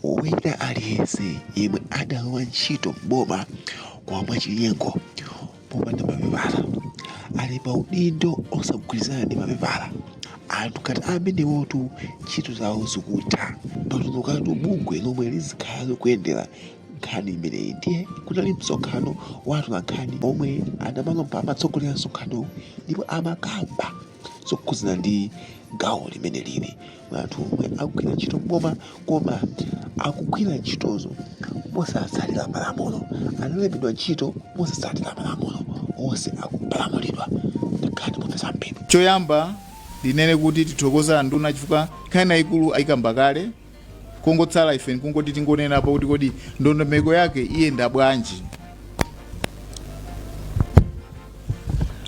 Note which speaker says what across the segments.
Speaker 1: Wina aliyense yemwe adalowa ntchito m'boma kwa mwachinyengo popanda mapepala, ali pa udindo osagwirizana ndi mapepala, anthu ngati amenewotu ntchito zawo zikutha. Patulukatu bungwe lomwe lizikhala likuyendera nkhani imeneyi ndiye kunali msonkhano wa atolankhani omwe anamanga pa amatsogolera msonkhano ndipo amakamba zokhudzana ndi gawo limene lili kwa anthu omwe akugwira ntchito m'boma koma akugwira ntchitozo mosatsatira malamulo analembedwa ntchito mosatsatira malamulo onse akupalamulidwa nkhani mopeza zambiri choyamba
Speaker 2: ndinene kuti tithokoza anduna chifukwa nkhani yayikulu ayikamba kale kungotsala ife nkungoti tingonenapo kuti kodi ndondomeko yake iyenda bwanji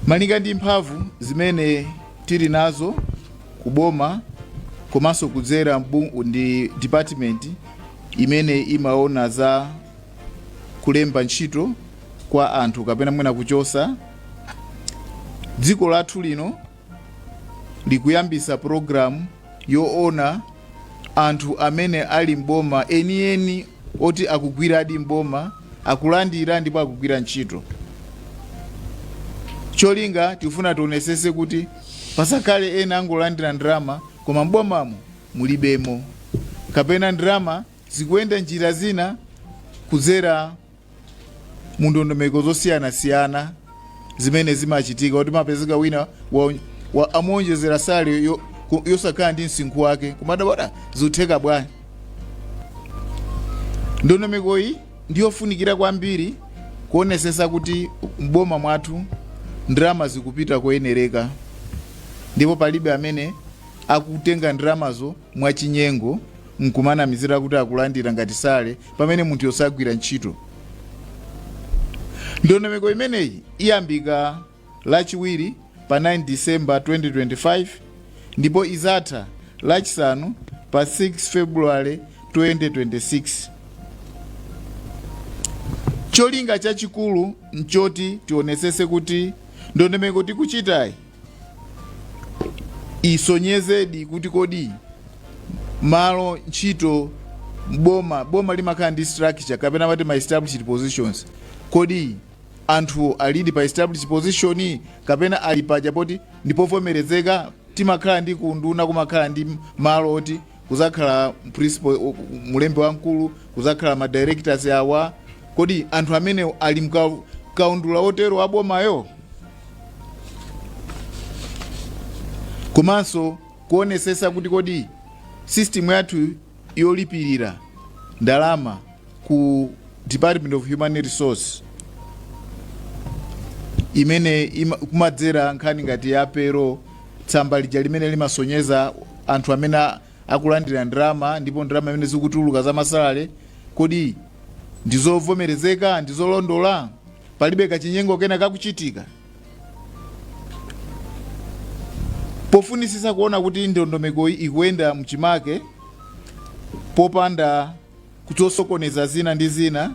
Speaker 2: malinga ndi mphamvu zimene tili nazo kuboma komanso kudzera mbu- ndi department imene imaona za kulemba ntchito kwa anthu kapena mwina kuchosa dziko lathu lino likuyambisa program yoona anthu amene ali m'boma enieni oti akugwiradi m'boma akulandira ndipo akugwira ntchito cholinga tifuna tionesese kuti pasakhale ena angolandira ndalama koma m'bomamo mulibemo kapena ndalama zikuyenda njira zina kudzera mu ndondomeko zosiyanasiyana zimene zimachitika kuti umapezeka wina wa, wa amuonjezera sale yo- ku- yosakhala ndi msinkhu wake kumadabwa zikutheka bwanji ndondomeko iyi ndiyofunikira kwambiri kuonesesa kuti mboma mwathu ndalama zikupita koyenereka ndipo palibe amene akutenga ndalamazo mwachinyengo nkumanamizira kuti akulandira ngati sale pamene munthuyo sagwira ntchito ndondomeko imeneyi iyambika lachiwiri pa 9 disemba 2025 ndipo izatha lachisanu pa 6 february 2026 cholinga chachikulu nchoti tionetsetse kuti ndondomeko tikuchitayi isonyezedi kuti kodi malo a ntchito boma boma limakhala ndi structure kapena amati ma established positions kodi anthu alidi pa established position kapena ali paja poti ndipovomerezeka timakhala ndi kunduna kumakhala ndi malo oti kuzakhala principal o- mulembe wamkulu kuzakhala ma directors awa kodi anthu amene ali mka- kaundula otero abomayo komanso kuonesesa kuti kodi system yathu yolipirira ndalama ku department of human resource imene ima, kumadzera nkhani ngati ya payroll tsamba lija limene limasonyeza anthu amene a- akulandira ndalama ndipo ndalama imene zikutuluka za ma salary kodi ndizovomerezeka ndizolondola palibe kachinyengo kena kakuchitika pofunisisa kuona kuti ndondomeko ikuyenda mchimake popanda ku zosokoneza zina ndi zina.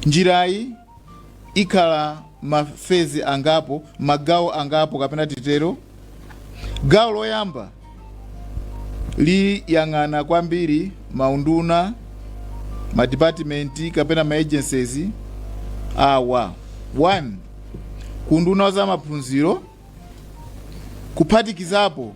Speaker 2: Njirayi ikhala mafezi angapo, magawo angapo kapena titero. Gawo loyamba liyang'ana kwambiri maunduna, madipatimenti kapena maagencies awa: 1 ku unduna wa zamaphunziro kuphatikizapo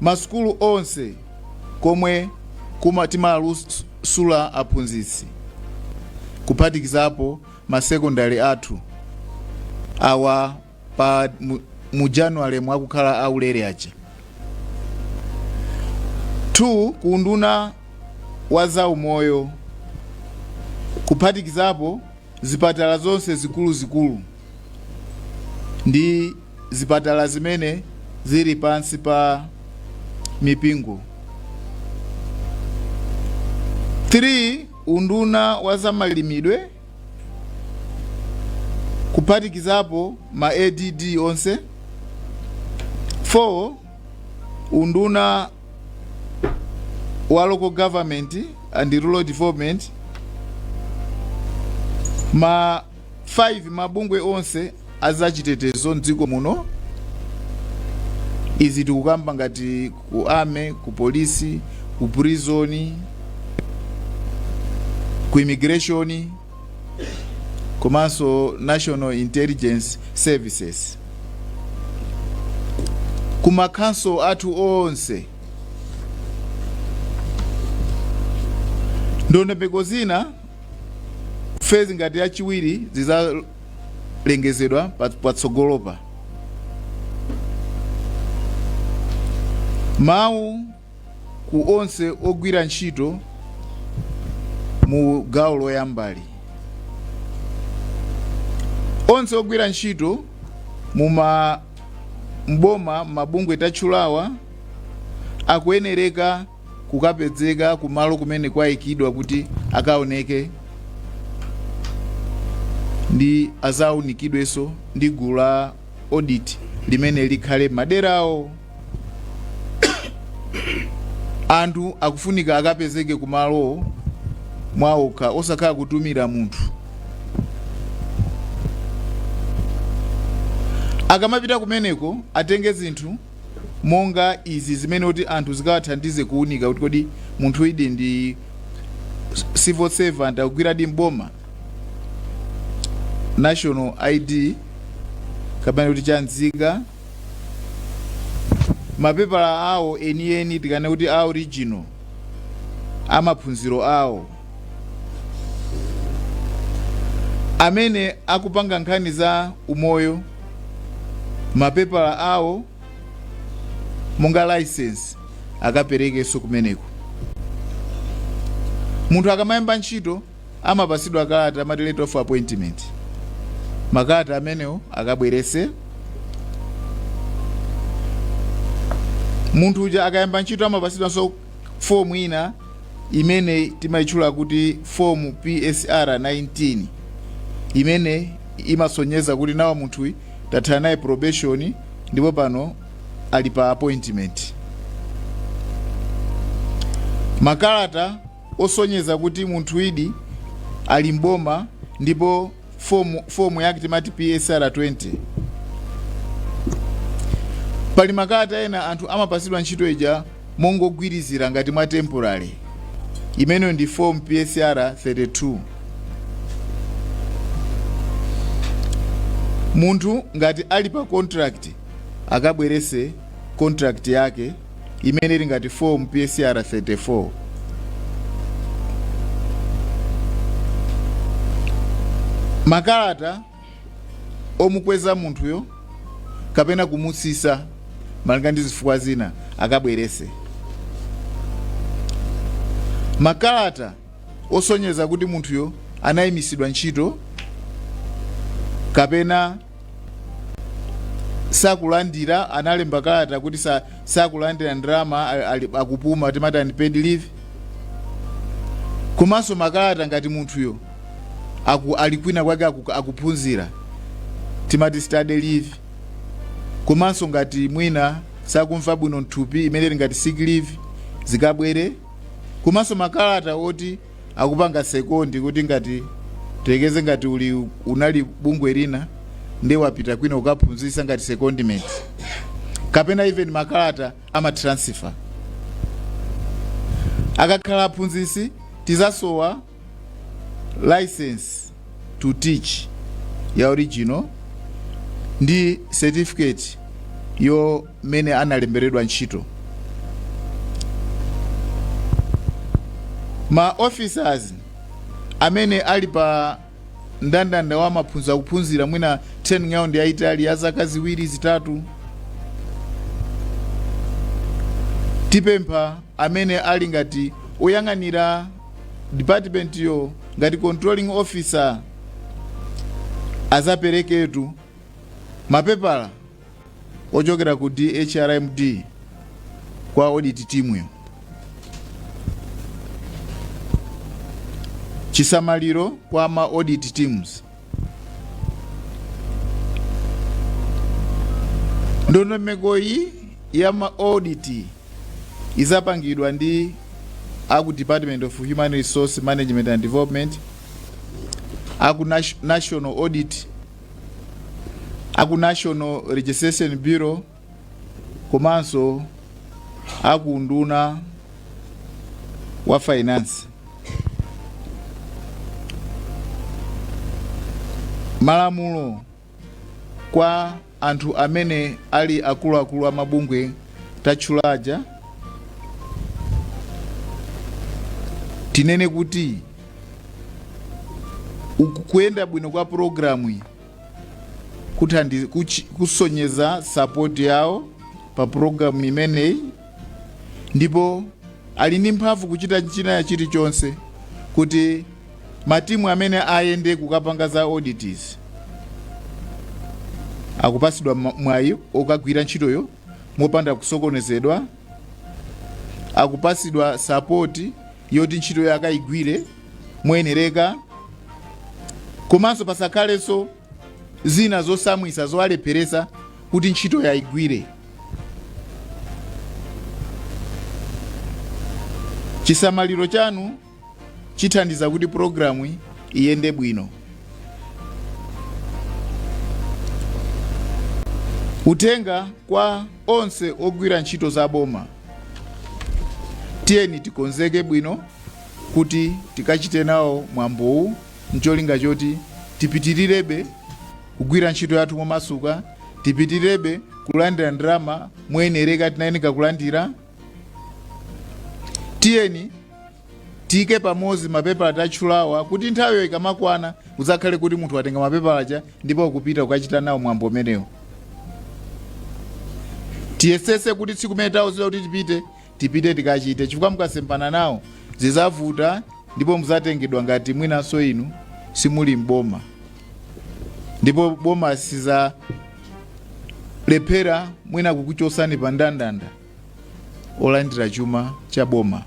Speaker 2: masukulu onse komwe kuma timasula aphunzitsi kuphatikizapo ma secondary athu awa pa mu, mu January mwakukhala aulere aja 2 kuunduna wa zaumoyo kuphatikizapo zipatala zonse zikuluzikulu ndi zipatala zimene zili pansi pa mipingo. 3 unduna wa zamalimidwe kuphatikizapo ma ADD onse 4 unduna wa local government and rural development ma 5 mabungwe onse azachitetezo mdziko muno izi tikukamba ngati ku army ku polisi ku prison ku immigration komanso national intelligence services ku makhonsolo athu onse ndiye nthambi zina Phase ngati yachiwiri zizalengezedwa patsogolopa. Mawu ku onse ogwira ntchito mu gawo loyambali. Onse ogwira ntchito muma mboma m'mabungwe tatchulawa akuyenereka kukapezeka kumalo kumene kwaikidwa kuti akaoneke ndi azaunikidwenso ndi gulu la audit limene likhale m'madera awo anthu akufunika akapezeke kumalo mwaokha osakhala kutumira munthu akamapita kumeneko atenge zinthu monga izi zimene kuti anthu zikawathandize kuunika kuti kodi munthuyudi ndi civil servant akugwiradi mboma national id kapena kuti cha nzika mapepala awo enieni tikanene kuti a original amaphunziro awo amene akupanga nkhani za umoyo mapepala awo monga license akaperekenso kumeneko munthu akamayamba ntchito amapasidwa kalata amati letter of appointment makalata amenewo akabwerese munthu uja akayamba ntchito amapasidwanso Fomu ina yimene timaitchula kuti fomu PSR 19 yimene imasonyeza kuti nawa munthu tathana naye probation ndipo pano ali pa appointment. Makalata osonyeza kuti munthuyudi ali m'boma ndipo fomu yake timati psr 20 pali makalata ena anthu amapasidwa ntchito ija mongogwirizira ngati mwa temporary imeneyo ndi fomu psr 32 munthu ngati ali pa contract akabwerese contract yake imene ili ngati fomu PSR 34. Makalata omukweza munthuyo kapena kumutsitsa malinga ndi zifukwa zina akabweretse. Makalata osonyeza kuti munthuyo anayimitsidwa ntchito kapena sakulandira analemba kalata kuti sa, sakulandira ndalama ali- ali- akupuma timati unpaid leave komanso makalata ngati munthuyo aku, ali kwina kwake aku, akuphunzira timati study leave komanso ngati mwina sakumva bwino mthupi imene ili ngati sick leave zikabwere komanso makalata oti akupanga sekondi kuti ngati tekeze ngati uli unali bungwe lina nde wapita kwina kukaphunzisa ngati secondment kapena even makalata amatransfer akakhala aphunzisi tizasowa license to teach ya original ndi certificate yo mmene analemberedwa ntchito. Ma officers amene ali pa ndandanda wa maphunziro akuphunzira mwina training yawo yayitali ya zaka ziwiri zitatu tipempha amene ali ngati oyang'anira department yo ngati controlling officer azapereketu mapepala ochokera ku DHRMD kwa audit timuyo. Chisamaliro kwa ma audit teams. Ndondomeko iyi ya ma audit izapangidwa ndi aku Department of Human Resource Management and Development aku Nat- National Audit a ku National Registration Bureau komanso a ku unduna wa finance. Malamulo kwa anthu amene ali akuluakulu a mabungwe tatchula aja tinene kuti uku kuyenda bwino kwa pulogalamu iyi kuthandiza kuchi- kusonyeza sapoti yawo pa pulogalamu imeneyi ndipo ali ndi mphamvu kuchita china chilichonse kuti matimu amene ayende kukapanga za audits akupasidwa ma- mwayi okagwira ntchitoyo mopanda kusokonezedwa, akupatsidwa sapoti yoti ntchitoyo akayigwire moyenereka, komanso pasakhalenso zina zotsamwitsa zowalepheretsa kuti ntchitoyo ayigwire. Chisamaliro chanu zithandiza kuti pulogalamuyi iyende bwino uthenga kwa onse ogwira ntchito za boma tiyeni tikonzeke bwino kuti tikachite nawo mwambowu ncholinga choti tipitirirebe kugwira ntchito yathu momasuka tipitirebe kulandira ndalama moyenereka tikuyenera kulandira tiyeni tiyike pamodzi mapepala tatchulawa kuti nthawiyo ikamakwana udzakhale kuti munthu watenga mapepala aja ndipo akupita kukachita nawo mwambo umenewo tiyesese kuti tsiku limene tawuzidwa kuti tipite tipite tikachite chifukwa mukasemphana nawo zidzavuta ndipo mudzatengedwa ngati mwinanso inu simuli mboma ndipo boma sizalephera mwina kukuchosani pa ndandanda olandira chuma cha boma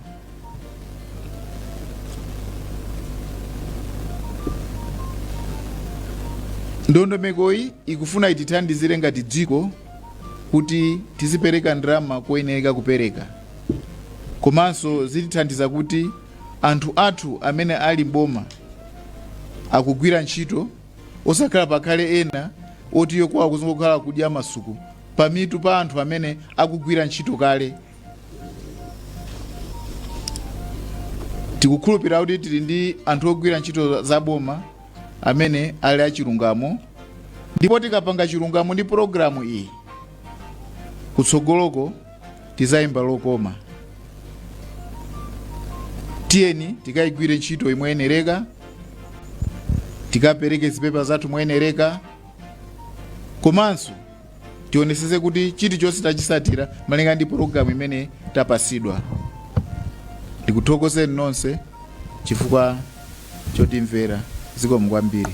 Speaker 2: ndondomekoyi ikufuna itithandizire ngati dziko kuti tizipereka ndalama koyenereka kupereka komanso zitithandiza kuti Anthu athu amene ali m'boma akugwira ntchito osakhala pakhale ena oti iwo kwawo kuzingokhala kudya masuku pamitu pa anthu amene akugwira ntchito kale. Tikukhulupirira kuti tili ndi anthu ogwira ntchito za boma amene ali achilungamo ndipo tikapanga chilungamo ndi pulogalamu iyi kutsogoloko tizayimba lokoma tiyeni tikayigwire ntchitoyi moyenereka tikapereke zipepa zathu moyenereka komanso tionesese kuti chilichonse tachisatira malinga ndi pulogalamu imene tapasidwa ndikuthokozeni nonse chifukwa chotimvera zikomo kwambiri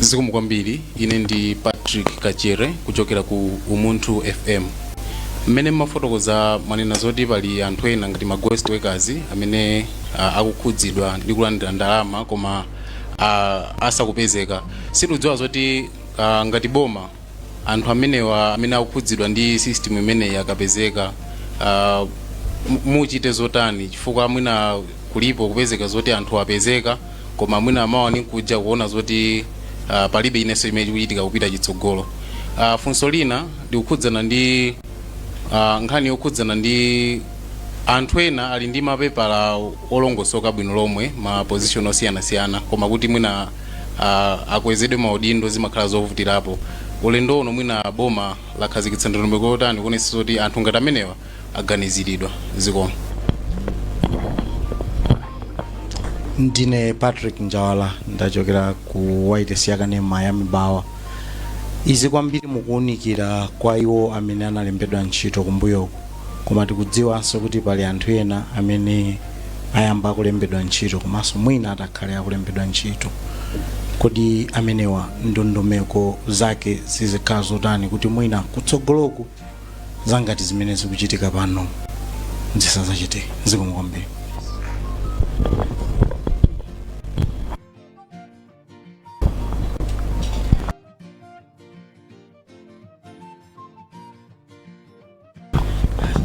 Speaker 3: zikomo kwambiri ine ndi patrick kachere kuchokera ku umunthu fm mmene mmafotokoza mwanena zoti pali anthu ena ngati ma ghost workers amene uh, akukhudzidwa ndi kulandira ndalama koma uh, asakupezeka sitikudziwa zoti uh, ngati boma anthu amenewa amene akukhudzidwa ndi system imeneyi akapezeka uh, muchita zotani chifukwa mwina kulipo kupezeka zoti anthu apezeka koma mwina amawa nkudza kuona zoti uh, palibe chinanso chimene chikuchitika kupita chitsogolo uh, funso lina likukhudzana ndi uh, nkhani yokhudzana ndi anthu ena ali ndi mapepala olongosoka bwino lomwe ma position osiyanasiyana koma kuti mwina ah, akwezedwe maudindo zimakhala zovutirapo ulendo uno mwina boma lakhazikitsa ndondomeko yotani kuonetsa kuti anthu ngati amenewa aganiziridwa zikomo
Speaker 4: ndine patrick njawala ndachokera ku wayilesi yakanema ya mibawa izi kwambiri mukuwunikira kwa iwo amene analembedwa ntchito kumbuyoku koma tikudziwanso kuti pali anthu ena amene ayamba kulembedwa ntchito komanso mwina atakhale akulembedwa ntchito kodi amenewa ndondomeko zake zizikhala zotani kuti mwina kutsogoloku zangati zimene zikuchitika pano zisazachitike zikomo kwambiri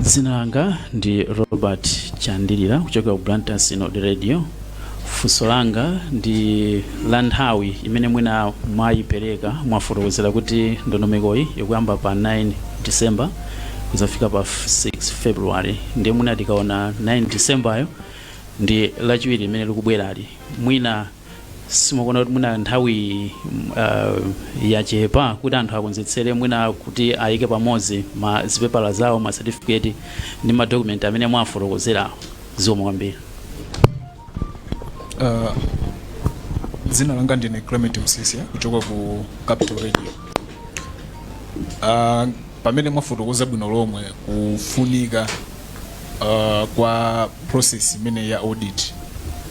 Speaker 5: dzina langa ndi robert chandilira kuchokera ku blantyre synod radio funso langa ndi la nthawi imene mwina mwayipereka mwafotokozera kuti ndondomekoyi ikuyamba pa 9 december kuzafika pa 6 february ndiye mwina tikaona 9 decemberyo ndi lachiwiri limene likubwerali mwina simukuona kuti mwina nthawi uh, yachepa kuti anthu akonzetsere mwina kuti ayike pamodzi ma zipepala zawo ma certificate ndi ma document amene mwafotokozerawo zikomo kwambiri Uh,
Speaker 6: dzina langa ndine clement msisia kuchoka ku capital radio uh, pamene mwafotokoza bwino lomwe kufunika uh, kwa process imene ya audit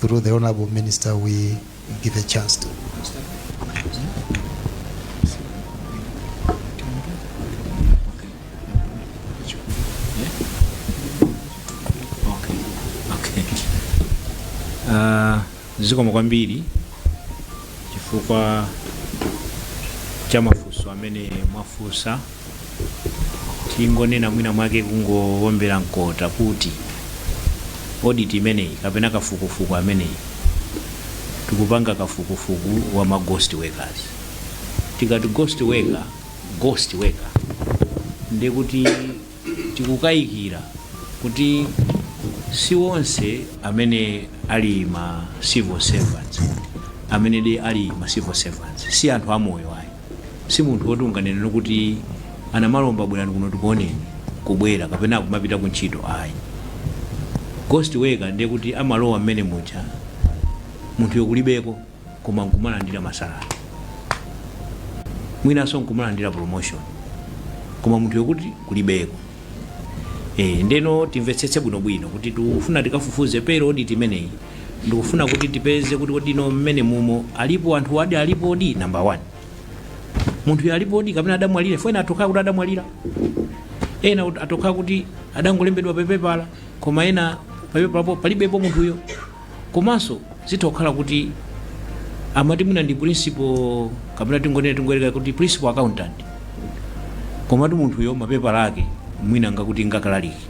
Speaker 7: through the Honorable Minister we give a chance to.
Speaker 8: Okay. Okay. Uh, zikomo kwambiri chifukwa cha mafunso amene mwafunsa tingonena mwina mwake kungowombera mkota kuti audit imeneyi kapena kafukufuku ameneyi tikupanga kafukufuku wa ma ghost workers tikati ghost worker ghost worker ndiye kuti tikukayikira kuti si onse amene ali ma civil servants amene de ali ma civil servants si anthu amoyo ayi si munthu woti unganene kuti anamalomba bwerani kuno tikuoneni kubwera kapena kumapita ku ntchito ayi ghost worker ndiye kuti amalowa mmene muja munthuyo kulibeko koma nkumalandira masalari mwinanso nkumalandira promotion koma munthu yokuti kulibeko e, ndeno timvetsetse bwinobwino kuti tikufuna tikafufuze payroll audit imeneyi Ndikufuna kuti tipeze kuti kodi no mmene mumo alipo anthuwadi alipodi number 1. Munthuyo alipodi kapena adamwalira fo ena atoka kuti adamwalira. Ena atoka kuti adangolembedwa pa pepala koma ena pa pepalapo palibepo munthuyo. Komanso zitha kukhala kuti amati mwina ndi principal kapena tingonena tingoyerekeza kuti principal accountant. Komatu munthuyo mapepala ake mwina ngakuti nga ukalaliki.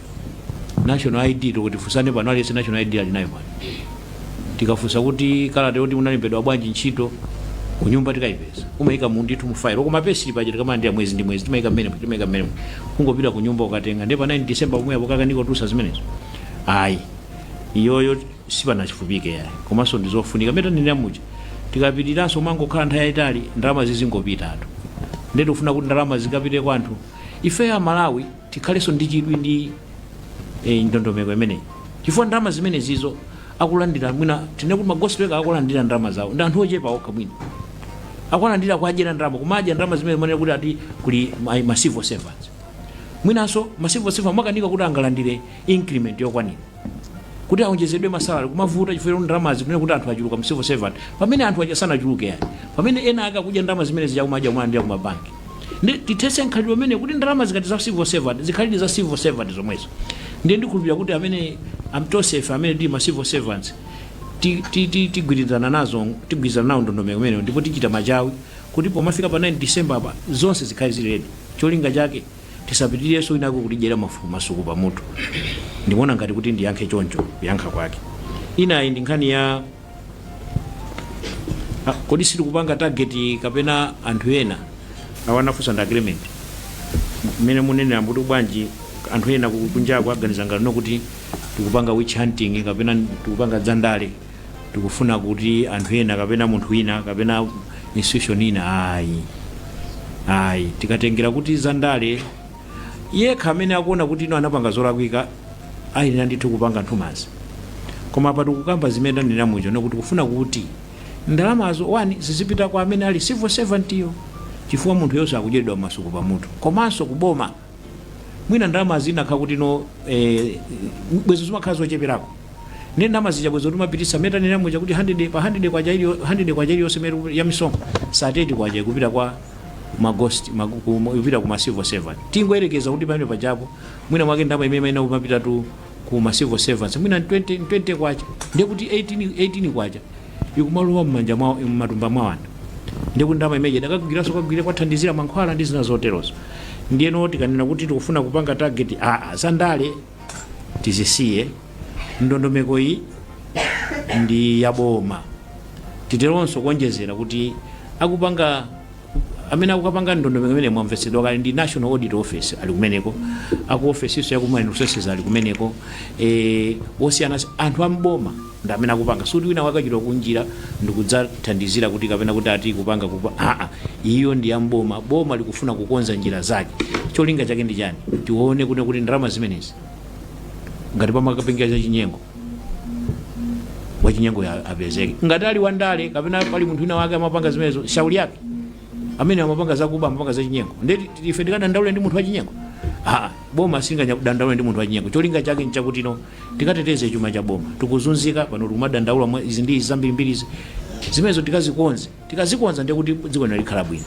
Speaker 8: national id toti tifunsane pano aliyense national id ali nayo pano tikafunsa kuti kalata yoti unalembedwa bwanji ntchito kunyumba tikayipeza umayika ndithu mu file koma payslip paja timalandira mwezi ndi mwezi timayika mmene timayika mmene kungopita kunyumba ukatenga ndipo 9 december pomwe apo kukanika kutusa zimenezo ayi iyoyo sipanafupike yayi komanso ndizofunika mmene ndinena muja tikapitiranso kumangokhala nthawi yayitali ndalama zizingopita anthu nde tikufuna kuti ndalama zikapite kwa anthu ifeyo amalawi Tikhaleso ndi chidwi ndi ndondomeko imeneyi chifukwa ndalama zimenezizo akulandira mwina tinene kuti ma ghost worker akulandira ndalama zawo ndi anthu ochepa okha mwina akulandira kuwadyera ndalama kumadya ndalama zimene amanena kuti ati kuli ma, ma civil servants mwinanso ma civil servants akanika kuti angalandire increment yokwanira kuti aonjezedwe masalary kumavuta chifukwa choti ndalamazi akunena kuti anthu achuluka mu civil servant pamene anthu aja sanachuluke yayi pamene ena ake akudya ndalama zimene zija kumadya kumalandira ku mabanki nde tithetse mkhalidwe umenewu kuti ndalama zikati za civil servant zikhaledi za civil servant zomwezo ndiye ndikhulupirira kuti amene tonsefe amene tili ma civil servants ti- ti- ti- tigwirizana nazo tigwirizana nayo ndondomeko imeneyo ndipo tichita machawi kuti pomafika pa 9 december apa zonse zikhale zili ready cholinga chake Tisapitirirenso inako kutidyera mafuku masuku pamutu. Ndikuona ngati kuti ndiyankhe choncho kuyankha kwake. Inayi ndi nkhani ya Ah, kodi sitikupanga target kapena anthu ena awa anafunsa nda agreement mmene munenera kuti bwanji anthu ena ku- kunjako aganiza ngati no kuti tikupanga witch hunting kapena tikupanga zandale tikufuna kuti anthu ena kapena munthu wina kapena institution ina ayi ayi tikatengera ku zandale iye yekha amene akuona kuti ino anapanga zolakwika ayenera ndithu kupanga nthumazi koma apa tikukamba zimene tanena muja no kuti tikufuna kuti ndalamazo one zizipita kwa amene ali civil servant yo chifukwa munthuyonso akudyeredwa masuku pamutu komanso kuboma mwina ndalama zinakakhala kuti no eh, bwezo zimakhala zocheperako nde ndalama zija bwezo timapitisa mmene tanena muja kuti 100 pa 100 kwacha ili 100 kwacha iliyonse imene ya misonkho sate kwacha ikupita kwa ma ghost magu- ku- ikupita ku ma civil servant tingoyerekeza kuti pamene pajapo mwina mwake ndalama imene imene imapitatu ku ma civil servants mwina ni 20 ni 20 kwacha ndiye kuti 18 18 kwacha ikumalowa mmanja mwa mmatumba mwa anthu ndiye kuti ndalama imeneyi idakagwiranso kagwire kuthandizira mankhwala ndi zina zoterozo ndiyeno tikanena kuti tikufuna kupanga target aa za ndale tizisiye ndondomeko iyi ndi yaboma titeronso kuonjezera kuti akupanga Amene akupanga ndondomeko imeneyi mwamvetsedwa kale ndi National Audit Office ali kumeneko, aku ofesinso ya ku Human Resources ali kumeneko, eeh osiyana si, anthu a m'boma ndi amene akupanga sikuti wina wake wachoka kunjira ndikudzathandizira kuti kapena kuti ati kupanga kupa haa iyo ndi ya m'boma, boma likufuna kukonza njira zake cholinga chake ndi chani tione kuti kuti ndalama zimenezi. ngati pamakapangidwa za chinyengo wachinyengo ya- apezeke ngati ali wandale kapena pali munthu wina wake amapanga zimenezo shauri yake amene amapanga zakuba amapanga zachinyengo nde ti- ife tikadandaule ndi munthu wachinyengo aa boma silingadandaule ndi munthu wachinyengo cholinga chake nchakutino tikateteze chuma cha boma tikuzunzika pano tikumadandaula mwa izi ndi izi zambirimbiri izi zimenezo tikazikonze Tikazikonza ndiye kuti dziko lino likhala bwino.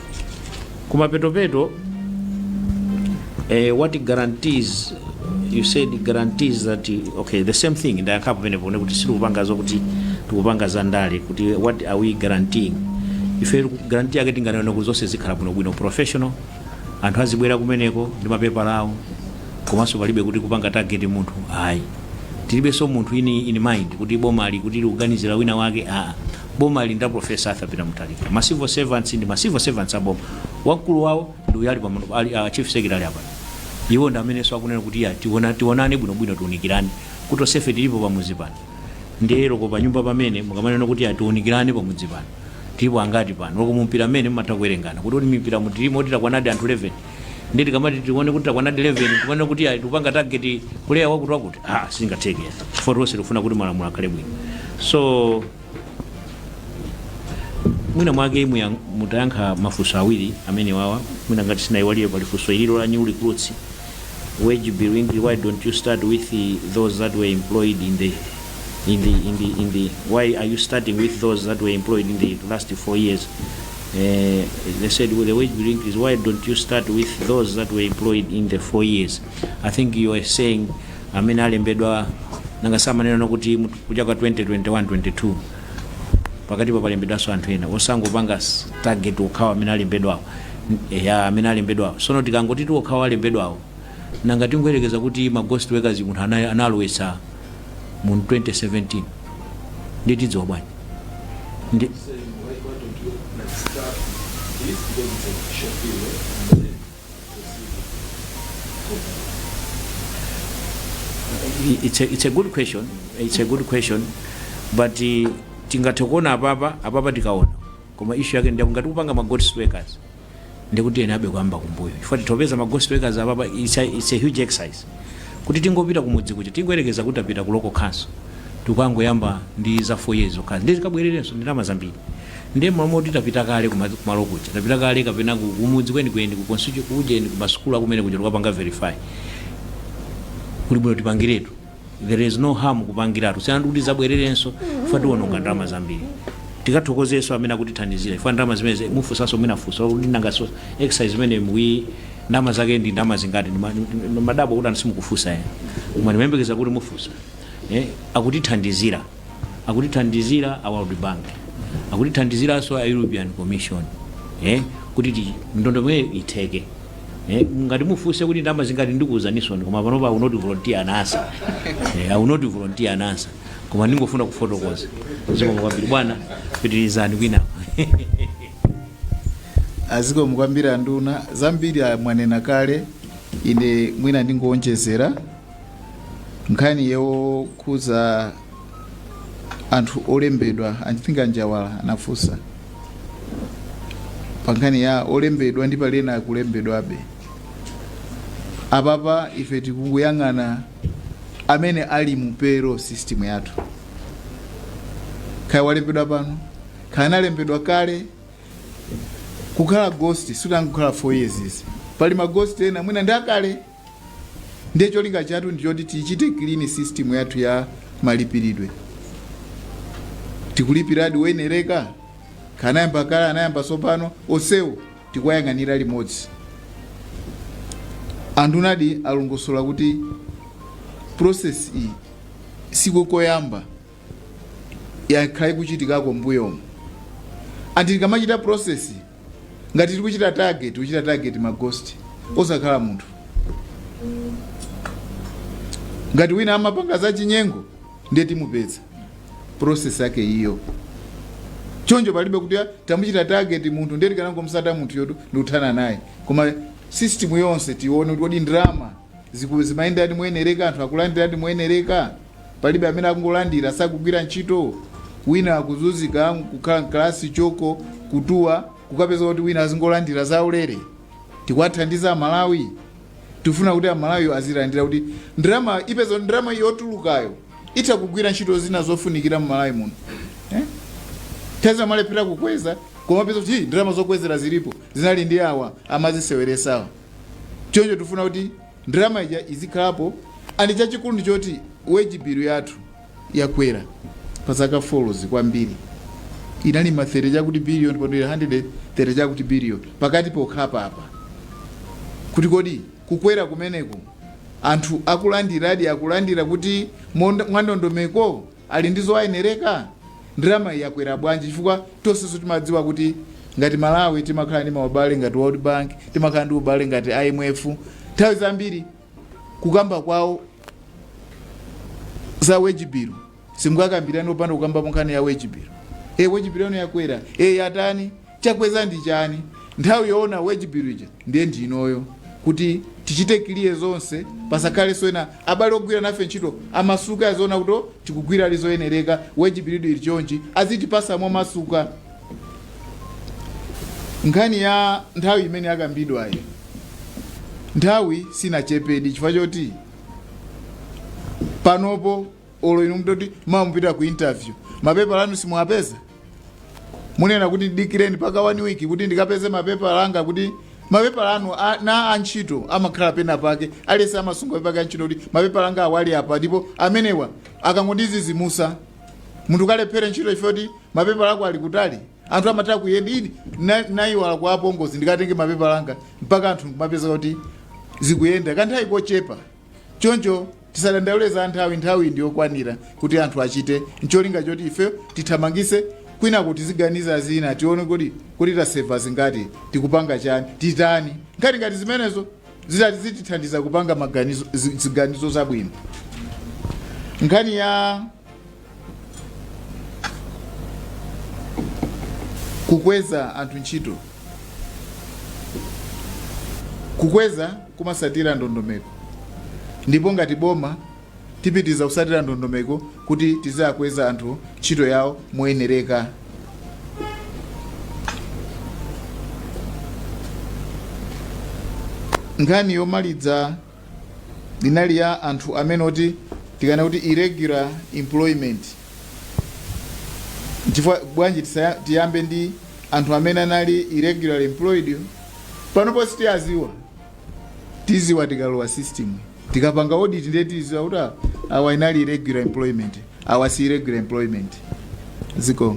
Speaker 8: Kumapetopeto eh, what guarantees you said guarantees that okay the same thing ndayankhapo penepo ne kuti sitikupanga zokuti tikupanga za ndale kuti what are we guaranteeing ife guarantee yake tinganena kuti zonse zikhala bwinobwino professional anthu azibwera kumeneko ndi mapepala awo komanso palibe kuti kupanga target munthu ayi tilibenso munthu in in mind kuti bomali kuti likuganizira wina wake aa boma lili la professor arthur peter mutharika ma civil servants ndi ma civil servants a boma wamkulu wawo ndi uyu ali pamano ali uh, chief secretary apa iwo ndi amenenso akunena kuti ya tiona tionane bwinobwino tiunikirane kuti tonsefe tilipo pamudzi pano ndiye loko panyumba pamene mukamanena kuti ya tiunikirane pamudzi pano tilipo angati pano loko mumpira mmene mumatha kuwerengana kuti oti mumpira mutilimo oti takwanadi anthu 11 ndi tikamati tione kuti takwana 11 tikanene kuti ayi tikupanga target player wakuti wakuti ah sizingatheke chifukwa tonse tikufuna kuti malamulo akhale bwino so mwina mwake muya- mutayankha mafunso awiri amene wawa mwina ngati sindinayiwale pali funso ililo la new recruits wage bill increase why don't you start with the, those that were employed in the in the in the in the why are you starting with those that were employed in the last four years they said well, the wage bill increase why don't you start with those that were employed in the four years i think you are saying amene alembedwa nanga samanena kuti mu- kuja kwa 2021 22 pakati apa palembedwanso anthu ena osangopanga s- target okhawa amene alembedwawo N- ya amene alembedwawo sono tikangoti tiokhawa alembedwawo nanga tingoyerekeza kuti ma ghost workers munthu ana- analowetsa mu 2017 ndiye tidziwa bwanji ndi it's a, it's a good question it's a good question but uh, tingathe kuona apapa apapa tikaona koma issue yake ndiyakungati kupanga ma ghost workers ndekuti tiyenerabe kuyamba kumbuyo chifukwa titopeza ma ghost workers apapa it's a, it's a huge exercise kuti tingopita kumudzi kuja tingoyerekeza kuti tapita ku local council tikangoyamba ndi za 4 years zokhazi ndiye tikabwererenso ndalama zambiri ndiye momwe kuti tapita kale kuma- kumalo kuja tapita kale kapena ku- kumudzi kwenikweni ku constituency kujeni ku masukulu akumene kuja tikapanga verify kuli bwino tipangiretu there is no harm kupangiratu kusiyana ndikuti tidzabwererenso chifukwa tiwononga ndalama zambiri tikathokozenso amene akutithandizira chifukwa ndalama zimene mufunsanso mwina funso kuti nanganso exercise imeneyi ndalama zake ndi ndalama zingati Ndi ma- ndi- ndi madabwa kuti anthu simukufunsa enanu koma ndimayembekeza kuti mufunsa eh, akutithandizira akutithandizira a world bank akutithandiziranso a european commission eh, kuti ti- ndondomeko itheke Eh, ngati mufunse kuti ndalama zingati ndikuuzaninso koma panopa I will not volunteer an answer eh, I will not volunteer an answer koma ndingofuna kufotokoza zikomo kwambiri bwana pitirizani
Speaker 2: kwinako zikomo kwambiri anduna zambiri a- mwanena kale ine mwina ndingowonjezera nkhani yokhuza anthu olembedwa I think a Njawala anafunsa pa nkhani ya olembedwa ndi pali ena akulembedwabe apapa ife tikungoyang'ana amene ali mu payroll system yathu kaya walembedwa pano kaya analembedwa kale kukhala ghost sikutangokhala 4 years izi pali maghost ena mwina ndi akale ndiye cholinga chathu ndi choti tichite clean system yathu ya malipiridwe tikulipiradi oyenereka kaya anayamba kale anayamba tsopano onsewo tikuwayang'anira limodzi andunadi alongosola kuti process iyi siko koyamba yakhala ikuchitikako mbuyomo ndiye tikamachita process ngati tiri kuchita target kuchita target maghost osakhala munthu ngati wina amapanga za chinyengo ndiye timupeza process yake iyo choncho palibe kuti "Ah, tamuchita target munthu ndiye tikanangomsata munthuyotu ndikuthana naye koma system yonse tione kuti kodi ndalama Kuti kodi ndalama zimayendadi moyenereka? Anthu akulandiradi moyenereka? Palibe amene akungolandira, sakugwira ntchito? Wina akuzunzika, kukhala m'kalasi, choko, kutuwa, kukapeza kuti wina azingolandira zaulere? Tikuwathandiza Amalawi? Tikufuna kuti Amalawiyo azilandira kuti ndalama upeza kuti ndalama yotulukayo itha kugwira ntchito zina zofunikira m'Malawi muno eh? thanzi amalephera kukweza koma upeza kuti "Hi, ndalama zokwezera zilipo zinali ndi awa amaziseweresawa choncho tifuna kuti ndalama ija izikhalapo and chachikulu ndi choti wage bill yathu yakwera pa zaka four-zi kwambiri inali ma 30 chakuti billion, pano ili 130 chakuti billion pakati pokhapa apa kuti kodi kukwera kumeneko anthu akulandiradi akulandira kuti monda- mwandondomeko ali ndi zowayenereka? Ndalamayi yakwera bwanji chifukwa tonsenso timadziwa kuti ngati Malawi timakhala ndi maubale ngati World Bank, timakhala ndi ubale ngati IMF, nthawi zambiri kukamba kwawo za wage bill simukakambirani opanda kukambapo nkhani ya wage bill. E, wage bill yanu yakwera, e, yatani? Chakweza ndi chani? Nthawi yoona wage bill ija ndiye ndi inoyo kuti tichite clear zonse pasakhale zoena abale ogwira nafe ntchito amasuke aziona kuti oh tikugwira zili zoyenereka wage bill ili chonchi azitipasa momasuka nkhani ya nthawi imene yakambidwayi nthawi sinachepedi chifukwa choti panopo olo inu nditati mawa mupita ku interview mapepala anu simuwapeza? munena kuti dikireni mpaka one week kuti ndikapeze mapepala anga kuti mapepala anu a- na antchito amakhala pena pake aliyense amasunga pepala ya ntchito kuti mapepala anga awali apa ndipo amenewa akangondizizimusa munthu ukalephere ntchito chifukwa choti mapepala ako ali kutali anthu amatha kuyenda ini na- nayiwala kwa apongozi ndikatenge mapepala anga mpaka anthu kumapeza kuti zikuyenda kanthawi kochepa choncho tisadandaule za nthawi nthawi ndi yokwanira kuti anthu achite ncholinga choti ife tithamangise kwinako tiziganiza zina tione kuti kuti tasevera zingati tikupanga chani titani nkhani ngati zimenezo zitati zitithandiza kupanga maganizo zi- ziganizo zabwino nkhani ya Kukweza anthu ntchito. Kukweza kumasatira ndondomeko ndipo ngati boma tipitiza kusatira ndondomeko kuti tiziwakweza anthu ntchito yawo moyenereka. Nkhani yomaliza inali ya anthu amene oti tikanena kuti irregular employment chifukwa bwanji tisaya- tiyambe ndi anthu amene anali irregular employed panopo sitiyaziwa tiziwa tikalowa system tikapanga audit ndiye tiziwa kuti ah, awa inali irregular employment awa si irregular employment ziko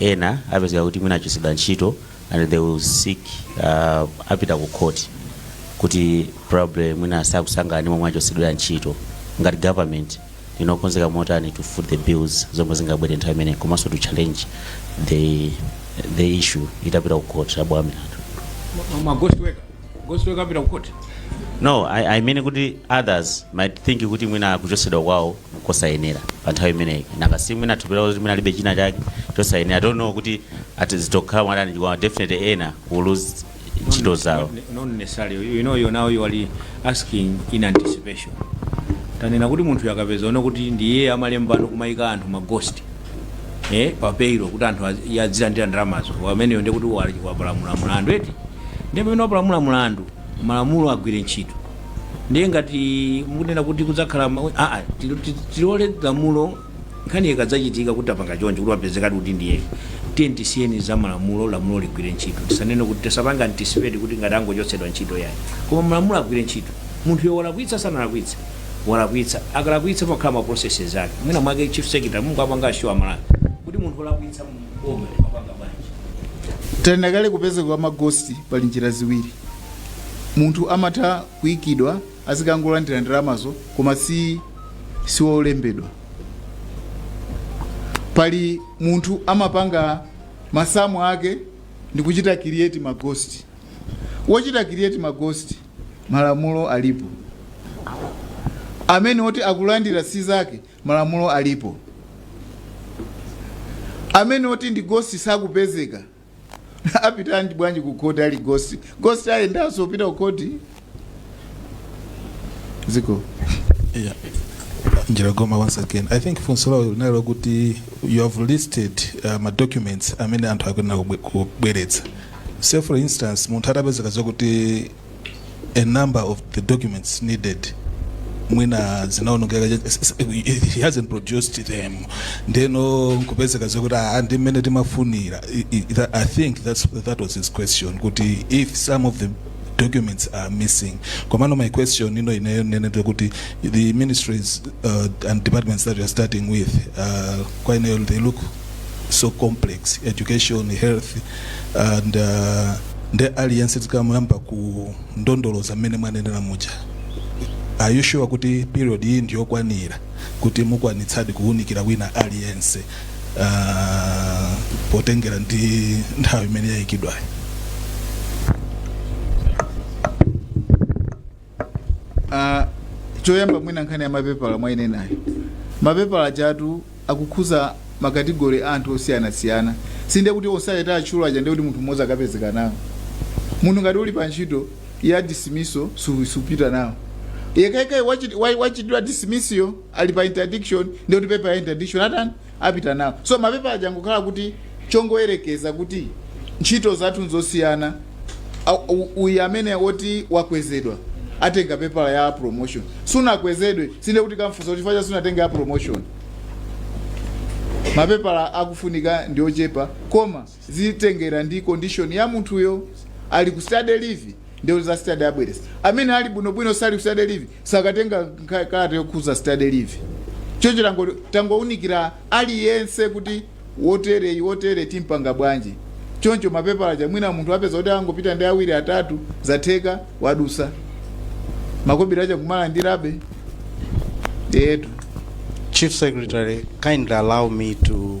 Speaker 9: Ena apezeka kuti mwina achotsedwa ntchito and they will seek uh, apita ku court kuti probably mwina sakusangalala ndi momwe achotsedwera ntchito ngati government ndi yokonzeka motani to foot the bills zomwe zingabwere nthawi imeneyo komanso to challenge the, the issue itapita ku court abwamira Ma- ma- ma ghost worker
Speaker 8: Ghost worker apita kukhoti. no
Speaker 9: I, i mean kuti others might think kuti mwina kuchotsedwa kwawo nkosayenera pa nthawi imeneyi nanga si mwina they'll feel kuti mwina alibe china chake chosayenera i don't know kuti ati zidzakhala motani chifukwa definitely ena will lose ntchito zawo Not- not
Speaker 8: necessarily you know you now you are asking in anticipation tanena kuti munthu akapezeka zoona kuti ndiye amalembano kumayika anthu maghost eh, pa payroll kuti anthu azi- azilandira ndalamazo ameneyo ndiye kuti wali- wapalamula mlandu eti ndiye pamene wapalamula mlandu malamulo agwire ntchito ndiye ngati mukunena kuti kudzakhala ma- ah, ah, tilo- ti- tilole lamulo nkhani ikadzachitika kuti apanga chonje kuti wapezekadi kuti ndiye tiye tisiyeni za malamulo lamulo ligwire ntchito tisanene kuti tisapanga anticipate kuti ngati angochotsedwa ntchito yayi koma malamulo agwire ntchito munthu yo walakwitsa sanalakwitsa walakwitsa akalakwitsa pamakhala ma processes ake mwina mwake chief secretary mungawapange assure aMalawi kuti munthu olakwitsa m'boma amapanga bwanji tanena
Speaker 2: kale kupezeka kwa maghost pali njira ziwiri munthu amatha kuikidwa azikangolandira ndalamazo koma siwolembedwa pali munthu amapanga masamu ake ndi kuchita create maghost wochita create maghost malamulo alipo amene oti akulandira si zake malamulo alipo amene oti ndi ghost sakupezeka apitadi bwanji ku khoti ali ghost ghost ayendanso kupita ku khoti
Speaker 10: ziko Yeah. Njiragoma once again. I think funso lawo linali lakuti you have listed uh, ma documents amene anthu akuyenera kubwe- kubweretsa. say for instance munthu atapezeka zakuti a number of the documents needed mwina zinaonongeka he hasn't produced them ndeno nkupezeka zakuti ah, ndi mmene timafunira I- I- that- i think that's, that was his question kuti if some of the documents are missing komano my question ino ineyo ndi yoti the ministries uh, and departments that we are starting with uh, kwa ineyo they look so complex education health and uh, nde aliyense tikamuyamba kulondoloza mmene mwanenera muja are you sure kuti period iyi ndiyokwanira kuti mukwanitsadi kuwunikira wina aliyense uh, potengera ndi nthawi imene yayikidwayo
Speaker 2: Ah, choyamba mwina nkhani ya mapepala mwayinenayo mapepala achatu akukhuza makategori a anthu osiyanasiyana si nde kuti onse atchula aja ndikuti munthu mmodzi akapezeka nawo munthu ngati uli pa ntchito ya dismissal supita nawo yekhayekhayo wachitidwa dismissal ali pa interdiction ndikuti pepala ya interdiction atani apita nawo so mapepala aja angokhala kuti chongoyerekeza kuti ntchito zathu nzosiyana Au- u- uyu amene oti wakwezedwa atenga pepala ya promotion sunakwezedwe si nde kuti tikamfunsa kuti chifukwa cha sunatenga ya promotion mapepala akufunika ndi ochepa koma zitengera ndi condition ya munthuyo ali ku study leave ndiye za study abweretsa amene ali bwinobwino sali ku study leave sakatenga nkha- kalata yokhuza study leave choncho tango- tangounikira aliyense kuti wotereyi wotere timpanga bwanji choncho mapepala aja mwina munthu apeza kuti angopita ndi awiri atatu zatheka wadusa makobiri aja kumalandirabe etu
Speaker 4: Chief Secretary, kindly allow me to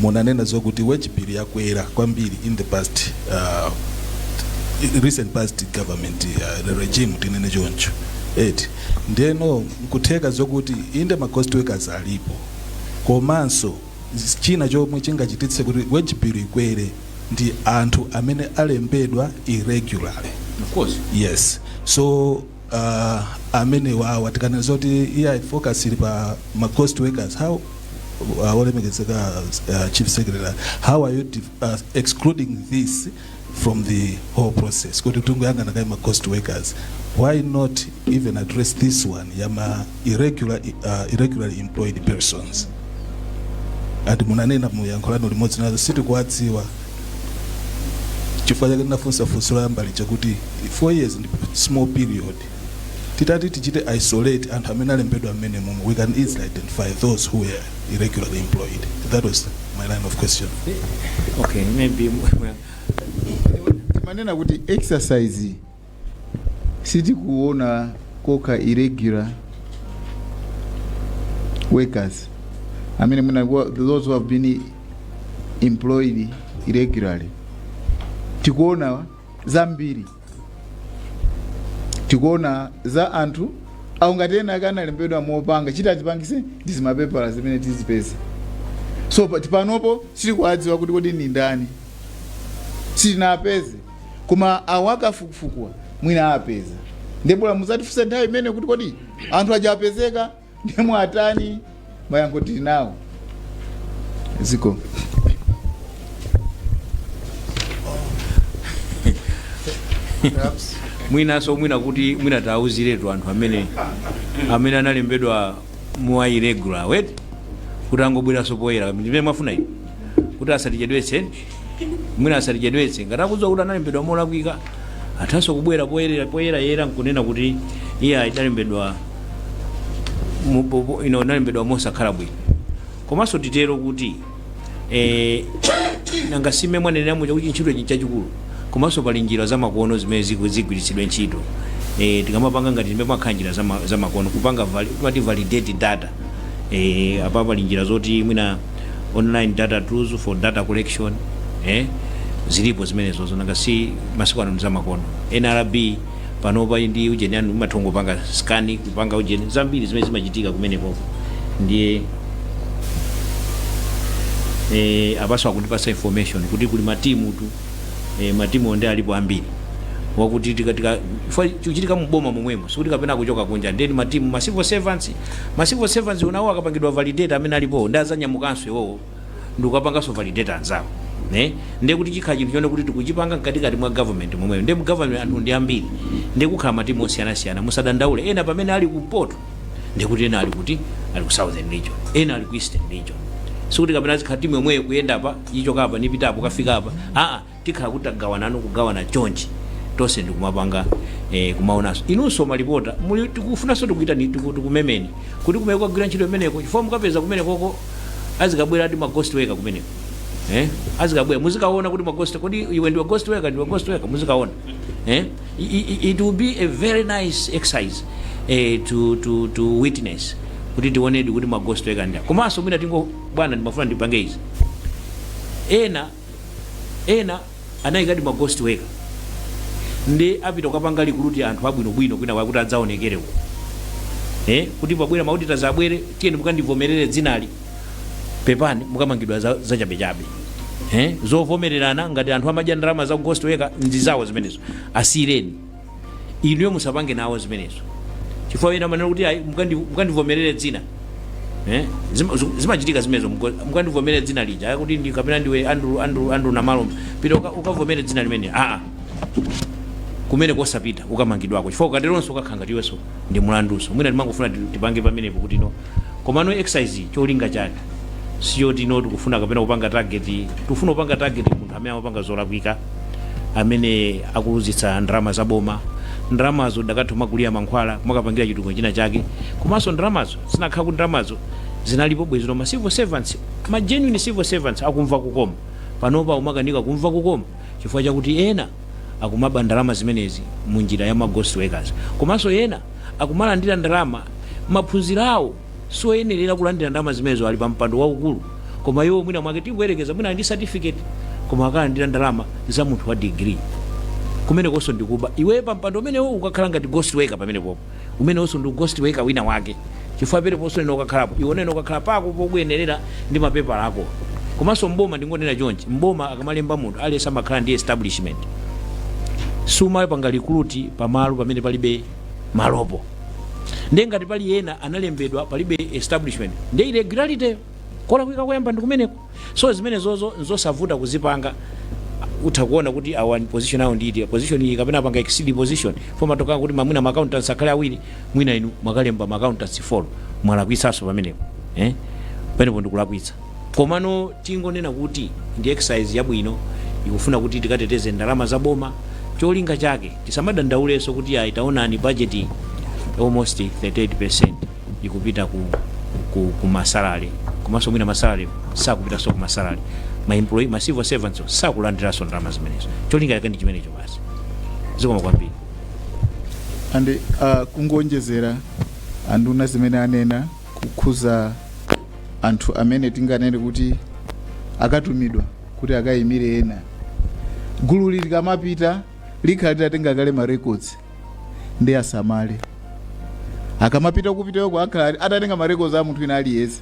Speaker 10: munanena zokuti wage bill yakwera kwambiri in the past uh, recent past government uh, regime tinene choncho eti ndiyeno nkutheka zokuti inde ma ghost workers alipo komanso z- china chomwe chingachititse kuti wage bill ikwere ndi anthu amene alembedwa irregularly of course
Speaker 8: yes so
Speaker 10: uh, amenewa awa tikana zoti iya focus ili pa ma cost workers how uh, olemekezeka uh, chief secretary how are you dif- uh, excluding this from the whole process kuti tungoyangana kaye ma cost workers why not even address this one yama irregular, uh, irregularly employed persons ati munanena mu yankho lanu limodzi nazo sitikuwadziwa chifukwa chake ndinafunsa funso loyamba lija kuti four years ndi small period titati tichite isolate anthu amene alembedwa mmene mumu we can easily identify those who were irregularly employed that was my line of question okay
Speaker 8: maybe
Speaker 2: mumanena kuti exercise sitikuona kokha irregular workers amene mwina wa- those who have been employed irregularly tikuona zambiri tikuona za anthu awo ngati ena ake analembedwa mopanga cheat atipangise ndi zimapepala zimene tizipeza so pa- panopo sitikuwadziwa kuti kodi ndi ndani sitinapeze koma awo akafukufukuwa mwina apeza ndiye bola muzatifunsa nthawi imeneyo kuti kodi anthu aja apezeka ndiye mwatani mayankho tili nawo ziko
Speaker 8: mwinanso mwina kuti mwina tiwauziretu anthu amene amene analembedwa mwa irregular way kuti angobweranso poyera ndi mmene mwafuna inu kuti asatichedwetse mwina asatichedwetse ngati akudziwa kuti analembedwa molakwika athanso kubwera poyerayera nkunena kuti ine ndinalembedwa mu- po- po- ndinalembedwa mosakhala bwino komanso titero kuti eh, nanga si mmene mwanenera muja kuti ntchito chi- chachikulu komanso pali njira zamakono zimene ziku- zigwiritsidwe ntchito eh, tikamapanga ngati zimenezi pamakhala njira zama- zamakono kupanga vali- timati validate data eh, apa pali njira zoti mwina online data tools for data collection eh? zilipo zimenezozo nanga si masiku ano ndi za makono nrb panopa ndi ujeni anu umathangopanga scan kupanga ujeni zambiri zimene zimachitika kumenekoko ndiye eh, apanso akundipasa information kuti kuli matimu tu eh, matimu nde alipo ambiri chifukwa kuti chiku- chikuchitika muboma momwemo sikuti kapena kuchoka kunja ndi matimu a ma civil servants Ma civil servants enawo akapangidwa validate amene alipowo ndiye azanyamukanso iwowo ndikukapanganso validate anzawo nde ndiye kuti chikhala chinthu chonena kuti tikuchipanga mkatikati mwa government momwemo ndiye mu government anthu ndi ambiri ndiye kukhala matimu osiyanasiyana musadandaule ena pamene ali kumpoto ndiye kuti ena ali kuti ali ku southern region ena ali ku eastern region sikuti kapena izikhala timu yomweyo kuyenda apa ichoka apa nkupita apo kufika apa aa tikhala kuti tagawanano kugawana chonchi tonse ndikumapanga eh, kumaonanso inunso malipota muli tikufunanso tikuitaneni tiku- tikumemeni kuti kumene tikagwire ntchito imeneko chifukwa mukapeza kumenekoko azikabwera ati ma ghost worker kumeneko eh? azikabwera muzikaona kuti ma ghost kodi iwe ndiwe ghost worker ndiwe ghost worker muzikaona eh? I- i- i- it will be a very nice exercise eh, to, to, to witness kuti tionedi kuti ma ghost worker ndani komanso mwina tingo bwana ndimafuna ndipange izi ena ena anayikadi ma ghost worker nde apita kukapanga recruit anthu abwinobwino kwina kwake kuti adzaonekere uko eh, kuti pabwera ma auditors abwere tiyeni mukandivomerere dzinali pepani mukamangidwa za- zachabechabe eh, zovomererana ngati anthu amadya ndalama za ghost worker ndi zawo zimenezo asiyireni inuyo musapange nawo zimenezo chifukwa ena amanena kuti ayi mukandi- mukandivomerere dzina Eh, zima- zu- zimachitika zimenezo muko- mukandivomerere dzina lija ayi kuti ndi kapena ndiwe andrew andrew andrew namalomba pita uka- ukavomere dzina limeneli aa kumeneko osapita ukamangidwako chifukwa ukateronso ukakhala ngati iwenso ndi mlanduwo mwina timangofuna ti- tipange pamenepo kuti no komano exercise iyi cholinga chake sichoti no tikufuna kapena kupanga target tikufuna kupanga target munthu amene amapanga zolakwika amene akuluzitsa ndalama za boma ndalamazo dakatha kumagulira mankhwala kumakapangira chitukuko china chake komanso ndalamazo zinakakhala kuti ndalamazo zinalipo bwezino ma civil servants ma genuine civil servants akumva kukoma panopa akumakanika kumva kukoma chifukwa chakuti ena akumaba ndalama zimenezi mu njira ya ma ghost workers komanso ena akumalandira ndalama maphunziro awo sioyenerera kulandira ndalama zimenezo ali pa mpando waukulu koma iwo mwina mwake tikuyerekeza mwina ali ndi certificate koma akalandira ndalama za munthu wa degree kumenekonso ndikuba iwe pa mpando umenewo ukukhala ngati ghost worker pamenepopo umenewonso ndi ughost worker wina wake chifukwa pamenepo sunakakhalapo iwe unakakhala pako pokuyenerera ndi mapepala ako komanso mboma ndingonena chonchi mboma akamalemba munthu aliyense amakhala ndi establishment sumapanga recruit pamalo pamene palibe malopo nde ngati pali ena analembedwa palibe establishment nde irregularity kulakwika koyamba ndikumeneko so zimenezozo nzosavuta kuzipanga utha kuona kuti ah position awo ndi position iyi kapena apanga exceed position fomu ikuti mwina ma accountants akhale awiri mwina inu mwakalemba ma accountants four mwalakwitsanso pamenepo eh pamenepo ndikulakwitsa komano tingonena kuti ndi exercise yabwino ikufuna kuti tikateteze ndalama za boma cholinga chake tisamadandaulenso kuti ayi taonani budget almost 38% ikupita ku, ku, ku masalary komanso mwina masalary sakupitanso ku masalary ma employee ma civil servants sakulandiranso ndalama zimenezo cholinga chake ndi chimenecho basi zikomo kwambiri
Speaker 2: and uh, kungoonjezera anduna zimene anena kukhuza anthu amene tinganene kuti akatumidwa kuti akayimire ena gulu ili likamapita likhala litatenga kale ma records ndiye asamale akamapita kupitako akhala atatenga ma records a munthu wina aliyense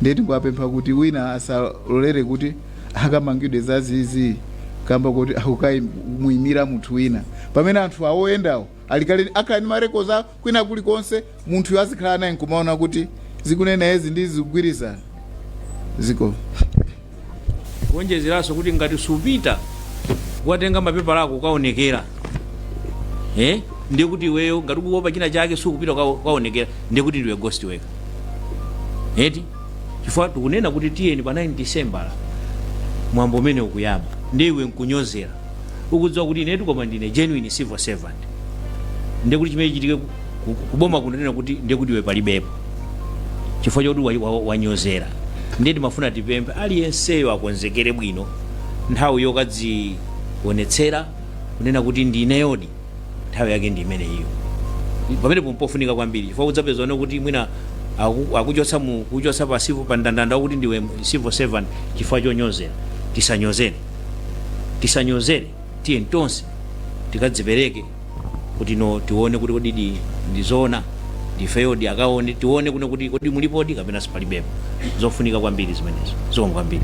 Speaker 2: ndiye tingowapempha kuti wina asalolere kuti akamangidwe zazizi kamba kuti akukaimira munthu wina pamene anthu awoyendawo alikale akhala ndi ma records a kwina kulikonse munthuyo azikhala naye nkumaona kuti zikunenedwazi ndi zikugwirizana
Speaker 8: zikomo kuonjezeranso kuti ngati supita kukatenga mapepala ako ukaonekera eh? ndiye kuti iweyo ngati ukuopa china chake sukupita uka- ukaonekera ndiye kuti ndiwe ghost worker eti chifukwa tikunena kuti tiyeni pa 9 December mwambo umene ukuyamba ndiye iwe nkunyozera ukudziwa kuti inetu koma ndine genuine civil servant ndiye kuti chimene chichitike ku- ku- kuboma kunanena kuti ndiye kuti iwe palibepo chifukwa choti wa- wa- wanyozera ndiye timafuna tipemphe aliyenseyo akonzekere bwino nthawi yokadzionetsera kunena kuti ndineyodi nthawi yake ndi imeneyiyo pamene pompofunika kwambiri chifukwa udzapezano kuti mwina aku- akuchotsa akuchotsa pa civil pa ndandanda wakuti ndiwe civil servant chifukwa chonyozera tisanyozere tisanyozere tiyeni tonse tikadzipereke kuti no tione kuti kodi di ndizoona ndifeyodi akaone tione kuno kuti kodi mulipodi kapena sipalibepo zofunika kwambiri zimenezo zikomo kwambiri